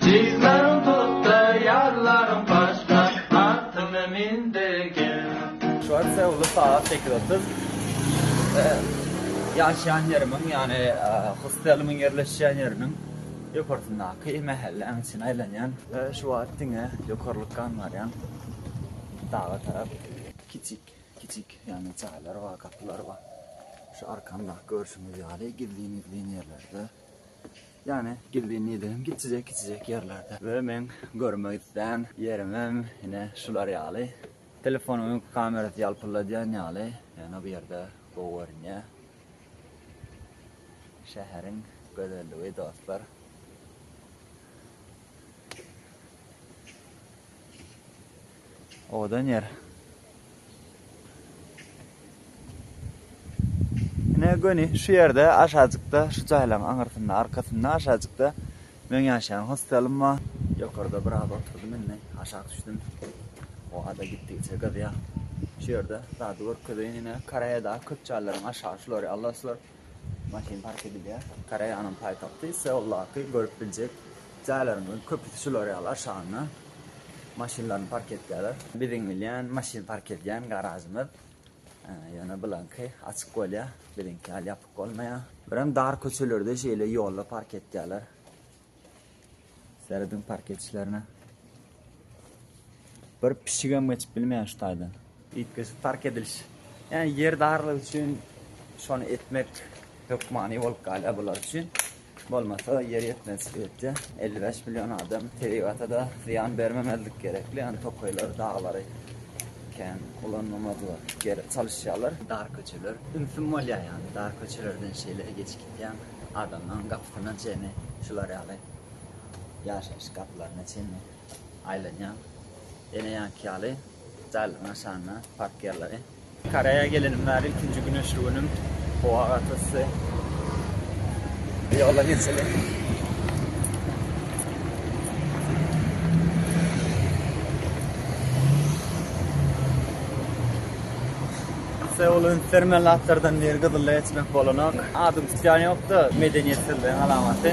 Jiglerim tutdy, ýarlarym başga, Atymda mindi gel. Şu an Seulda sagat sekiz otuz. Ýaşaýan ýerimiň, ýagny hostelimiň ýerleşýän ýeriniň ýokarsyndaky mähelläň içine aýlanýan. Şu wagt diňe ýokarlykdan barýan, daga tarap. Kiçik, kiçik, ýagny jaýlar bar, gapylar bar. Şu arkamdaky görşüňiz ýaly gizlin-gizlin ýerlerde. Ýani gizlin nidegim kiçijek kiçijek ýerlerde we meň görmek islän ýerimem ine şular ýaly. Telefonuň öňki kamerasy ýalpyldadýan ýaly, ýöne bu ýerde gowy görünýär. Şäheriň gözelligi dostlar. Owadan ýer. Ine göni şu ýerde aşajykda şu jaýlaryň aňyrsynda arkasynda aşajykda meň ýaşaýan hostelym bar. Ýokarda biraz oturdym indi aşak düşdüm. Howa-da gitdigiçe gyzýar. Şu ýerde zady görkezeýin ine. Koreýada köp jaýlaryň aşagy şular ýaly dostlar. Maşyn park edilýär. Koreýanyň paýtagty Seuldaky görüp biljek jaýlaryň köpüsi şular ýaly aşagynda maşynlaryny park etýärler. Biziň bilýän maşyn park edýän garažymyz ýöne bulaňky açyk bolýar, biziňki ýaly ýapyk bolmaýar. Birem dar köçelerde şeýle ýolda park etýärler. Serediň parketçilerine. Bir pişigem geçip bilmeýär şu taýdan. Üýtgeşik park ediliş. Ýani ýer darlygy üçin şony etmek hökmany bolup galýar bular üçin. Bolmasa ýer ýetmez öýtde. 55 million adam tebigata da zyýan bermemezlik gerekli. Ýani tokaýlar, daglary kän ulanmamazlar gerek. Çalyşýarlar. Dar köçeler. Ünsüm bolýar ýani dar köçelerden şeýle geçip gitýän. adamlaryň gapysyna çenli şular ýaly ýaşaýyş gapylaryna çenli aýlanýar. Ene ýanky ýaly jaýlaryň aşagynda park ýerleri. Koreýa gelenim bäri ilkinji güneşli günüm. Howa gaty yssy. Ýola geçeli. Seul öňkülermen zatlardan biri gyzylla geçmek bolanok. Adyň tutýan ýokda medeniýetsizligiň alamaty.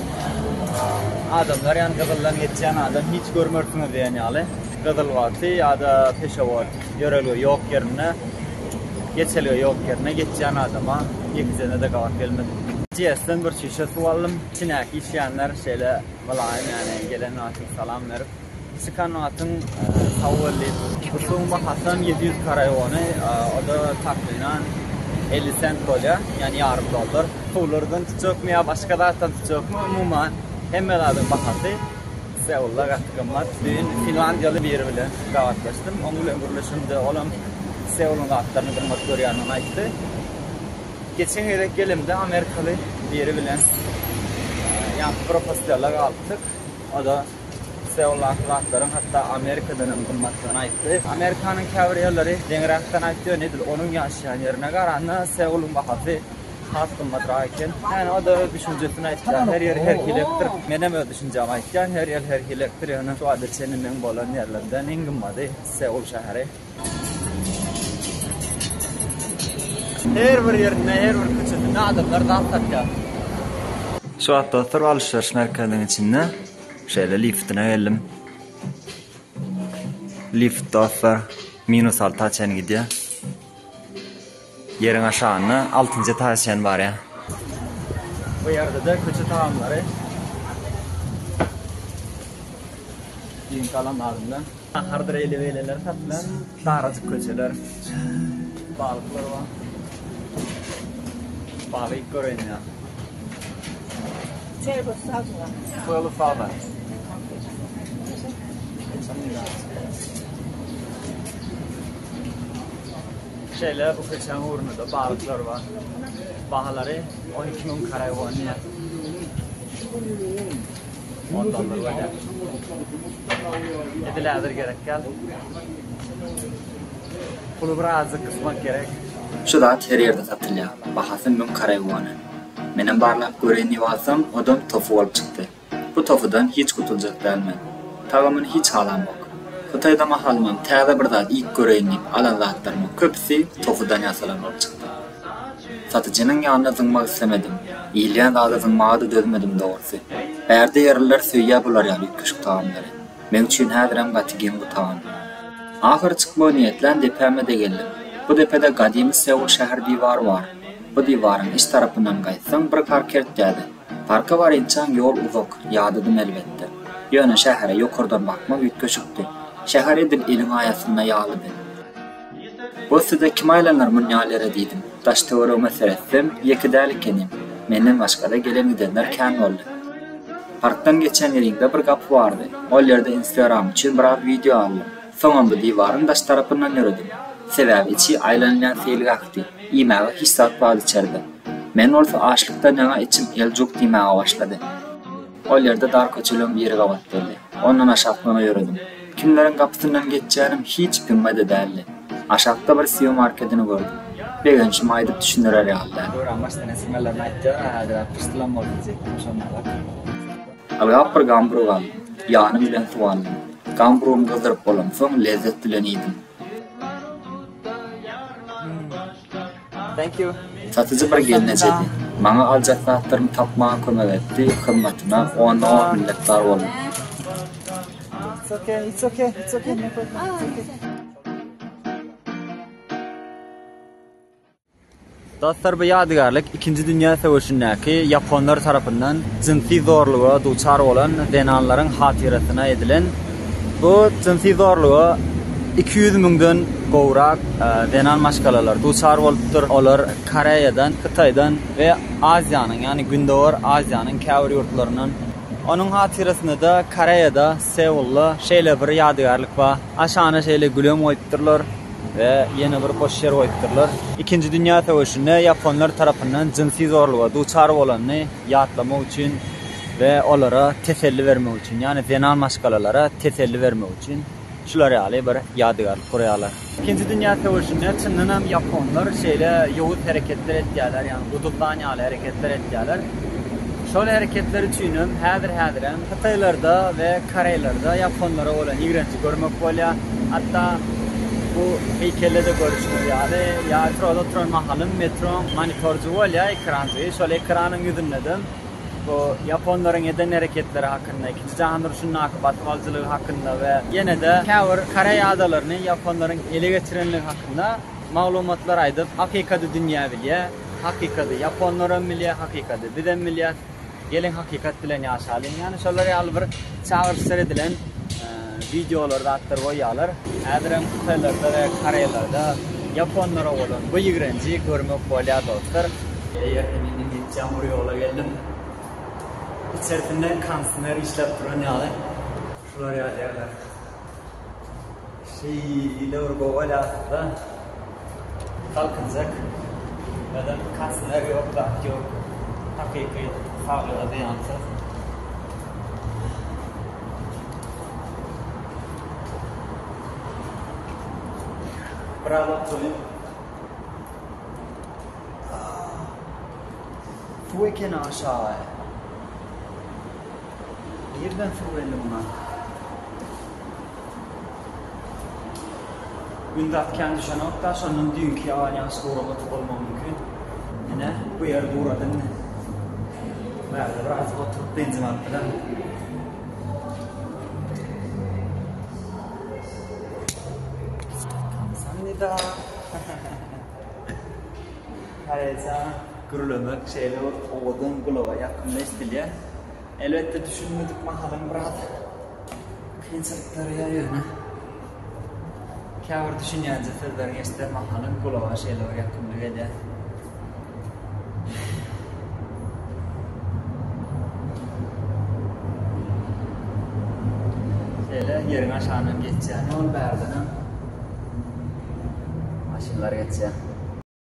Adamlar ýan gyzyldan geçýän adam hiç görmersiňiz diýen ýaly. Gyzyl wagty ýa-da peşewat ýörelge ýok ýerinde, geçelge ýok ýerinde geçýän adama ýekejede-de gabat gelmedik. GS-den bir şişe suw aldym. Içindäki içýänler şeýle mylaýym ýagny gelen wagty salam berip. Çykan atyn tawellit. Bu suwuň bahasam ýedi ýüz karaiony, o-da takmynan elli sent bolýar, ýagny ýarym dollar. Suwlardan tutjakmy ýa başga zatdan tutjakmy, umuman, hemme zadyň bahasy Seulla gaty gymmat. Bu gün finlandiýaly biri bilen gabatlaşdym. Oň bilen gürleşemde, olam Seullyň zatlaryny gymmat görýändigini aýtdy. Geçen gezek gelemde amerikaly biri bilen ýaňky propostýala galypdyk. O-da Seollaky zatlaryň hatda Amerikadan hem gymmatdygyny aýtdy. Amerikanyň käbir ýerleri deňräkden aýtýar, edil onuň ýaşaýan ýerine garanda Seoluň bahasy has gymmatrak eken. Ýöne o-da öz düşünjesini aýtýar. Her ýeri her hilekkdir. Menem öz düşünjämi aýtýan, her ýer her hilekkdir. Ýöne şu wagta çenli meň bolan ýerlerimden iň gymmady Seol şäheri. Her bir ýerinde, her bir köçesinde adamlar zat satýar. Şu wagt dostlar alşyryş merkeziniň içinde şeýle liftine geldim. Lift dostlar minus alta çenli gidýär. Ýeriň aşagynda altynjy etaža çen barýar. Bu ýerde-de köçe tagamlary. Giň galam adyndan. Nahardyr eýlebeýleler satylýar. Darajyk köçeler. Balyklar bar. Balyk iýip göreýin ýa. Çaý bolsa salyşyň. Köli sada. Şeýle bu keçäň ugrunda-da balyklar bar. Bahalary on iki müň karaý bolýar. On dollar bolýar. Edil häzir gerek däl. Puly birazjyk gysmak gerek. Şu zat her ýerde satylýar. Bahasy müň karaý wony. Menem barlap göreýin diýip alsam, odam tofu bolup çykdy. Bu tofudan hiç gutuljak däl men. Tagamyny hiç halamok. Hytaýda mahalymam täze bir zat iýip göreýin diýip alan zatlarymyň köpüsi tofudan ýasalan bolup çykdy. Satyjynyň ýanyna zyňmak islemedim. Iýilýän zada zyňmaga-da dözmedim dogrusy. Bärde ýerliler söýýä bular ýaly üýtgeşik tagamlary. Meň üçin häzirem gaty geň bu tagam. Ahyry çykmagy niýetlän depäme-de geldim. Bu depede gadymy Seul şäher diwary bar. Bu diwaryň iç tarapyndan gaýtsaň bir kar kertdädi. Parka barynçaň ýol uzak, ýadadym elbetde. Ýöne şähere ýokardan bakmak üýtgeşikdi. Şäher edil eliň aýasynda ýalydy. Bu size kim aýlanar munýal ýere diýdim. Daş-töweregime seretsem, ýeke däl ekenim. Menden başga-da gelen-gidenler kän boldy. Parkdan geçen ýeriňde bir gapy bardy. Ol ýerde Instagram üçin biraz wideo aldym. Soňam bu diwaryň daş tarapyndan ýöredim. Sebäbi içi aýlanylýan seýilgähdi. Iýmäge hiç zat bar içerde. Men bolsa açlykdan ýaňa içim eljuk diýmäge başlady. Ol ýerde dar köçeleň biri gabat geldi. Ondan aşaklana ýöredim. Kimleriň gapysyndan geçýänim hiç üpüňme-de däldi. Aşakda bir Sio markedini gördüm. Begençimi aýdyp düşündirer ýaly däl. Göran başdan esirmelerini aýtýar-a, häzir-ä pyşdylam bolup gidjekdim, şonda-a bakyň. Ylgap bir gamburug aldym. Ýanym bilen suw aldym. Gamburugym gyzdyryp bolansoň, lezzet bilen iýdim. Satyjy bir gelne çedi. Maňa aljak zatlarymy tapmaga kömek etdi, hyzmatyna onda-on minnetdar boldum. Dostlar bu ýadygärlik ikinji dünýä söweşindäki ýaponlar tarapyndan jynsy zorluga duçar bolan zenanlaryň hatyrasyna edilen bu jynsy zorluga iki ýüz müňden gowrak zenan maşgalalar duçar bolupdyr olar koreýadan hytaýdan we aziýanyň ýagny gündowar aziýanyň käbir ýurtlaryndan onuň hatyrasynada koreýada seulda şeýle bir ýadygärlik bar aşana şeýle gülem goýupdyrlar. We ýene bir boş ýer goýupdyrlar. Ikinji dünýä söweşinde ýaponlar tarapyndan jynsy zorluga duçar bolanyny ýatlamak üçin we olara teselli bermek üçin, ýagny zenan maşgalalara teselli bermek üçin şular ýaly bir ýadygärlik gurýarlar. Ikinji dünýä söweşinde çyndan hem ýaponlar şeýle ýowuz hereketler etýärler, ýagny guduzlan ýaly hereketler etýärler. Şol hereketleri üçin hem häzir-häzirem Hytaýlarda we koreýlerde ýaponlara bolan ýigrenji görmek bolýar. Hatda bu heýkelde-de görüşiňiz ýaly, ýatroda oturan mahalym metroň monitorjy bolýar, ekranjy. Şol ekranyň ýüzünde-de bu ýaponlaryň eden hereketleri hakynda, ikinji jahan urşundaky basyp alyjylygy hakynda we ýene-de käbir koreý adalaryny ýaponlaryň ele geçirenligi hakynda maglumatlar aýdyp, hakykady dünýä bilýär. Hakykady ýaponlaram bilýär, hakykady bizem bilýäs. Geliň hakykat bilen ýaşalyň. Ýani şolar ýaly bir çagyryş seredilen wideolar zatlar goýýarlar. Häzirem hytaýlarda we koreýlarda ýaponlara bolan bu ýigrenji görmek bolýar dostlar. Eýerden indi netjam bir ýola geldim. Içersinde konsner işläp duran ýaly. Şular ýaly ýerler. Şeýdibir gowal aslynda galkynjak ýadan kosner ýok zat ýok hakyky saglyga zyýansyz. Biraz oturyň. Suw ekeni aşagy. Nirden suw geldi muňa? Gündag kän düşenok-da, şondan düýnki ýagan ýagyş gura gotup bolmagy mümkin. Ine, bu ýer gurady indi. Bu ýerde biraz oturyp benzin alyp bilerin. Sen nida? Hareýsa. Gürlemek şeýle bir owadan, gulaga ýakymly eşdilýär. Elbetde, düşünmedik mahalam biraz kynçylyk döreýär, ýöne käbir düşünýänje sözleriňi eşiden mahalyň gulaga şeýle bir ýakymly gelýär. Şeýle ýeriň aşagyndan geçýär. Ýol bärden hem maşynlar geçýär.